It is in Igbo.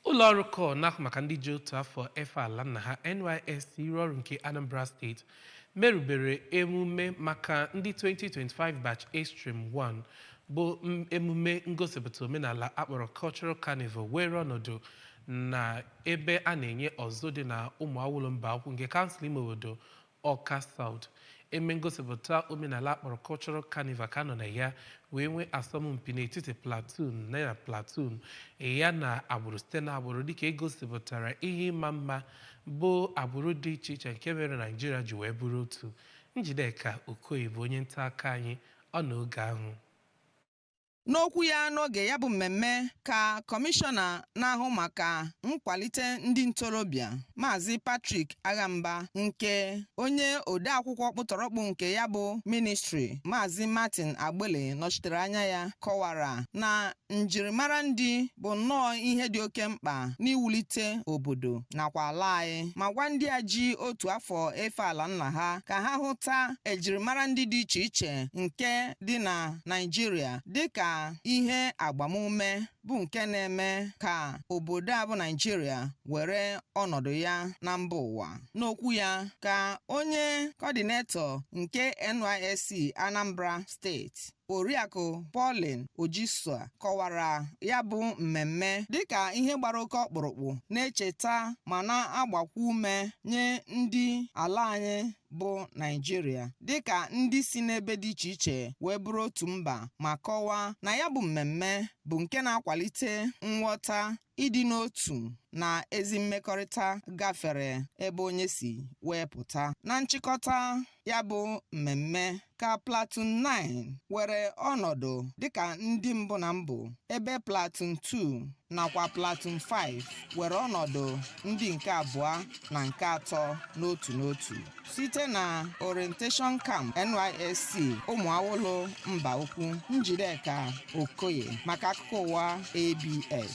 ụlọ ọrụ kọọ na-ahụ maka ndị ji otu afọ efe ala nna ha NYSC iru ọrụ nke Anambra steeti merubere emume maka ndị 2025 batch A Stream 1 bụ m- emume ngosipụta omenala a kpọrọ Cultural Carnival were ọnọdụ na ebe a na-enye ọzụzụ dị na Ụmụawụlụ Mbaukwu nke kansụl ime obodo Ọka South emume ngosipụta omenala a kpọrọ Cultural Carnival ka a nọ na ya wee nwee asọmpi n'etiti Platoon na Platoon ya na agbụrụ site na agbụrụ dịka e gosipụtara ihe ịma mma bụ agbụrụ dị iche iche nke mere Naijiria ji wee bụrụ otu Njideka Okoye bụ onye nta akụkọ anyị nọ na oge ahụ N'okwu ya n'oge ya bụ mmemme ka kọmishọna na-ahụ maka nkwalite ndị ntorobịa Maazị Patrick Agha Mba nke onye odeakwụkwọ ọkpụtọrọkpụ nke ya bụ ministri Maazị Martin Agbili nọchitere anya ya kọwara na njirimara ndị bụ nnọọ ihe dị oke mkpa n'iwulite obodo nakwa ala anyị ma gwa ndị a ji otu afọ efe ala nna ha ka ha hụta ejirimara ndị dị iche iche nke dị na Naịjirịa dịka ihe agbamume bụ nke na-eme ka obodo a bụ Naịjirịa were ọnọdụ ya na mba ụwa. N'okwu ya ka onye kọdinetọ nke NYSC Anambra steeti Oriakụ Pauline Ojisua kọwara ya bụ mmemme dịka ihe gbara oke ọkpụrụkpụ na-echeta ma na-agbakwa ume nye ndị ala anyị bụ Naịjirịa dịka ndị si n'ebe dị iche iche wee bụrụ otu mba ma kọwaa na ya bụ mmemme bụ nke na-akwalite nghọta ịdị n'otu na ezi mmekọrịta gafere ebe onye si wee pụta. Na nchịkọta ya bụ mmemme ka Platoon 9 were ọnọdụ dịka ndị mbụ na mbụ ebe Platoon 2 nakwa Platoon 5 were ọnọdụ ndị nke abụọ na nke atọ n'otu n'otu site na orientation camp NYSC Ụmụawụlụ Mbaukwu Njideka Okoye maka akụkọ ụwa ABS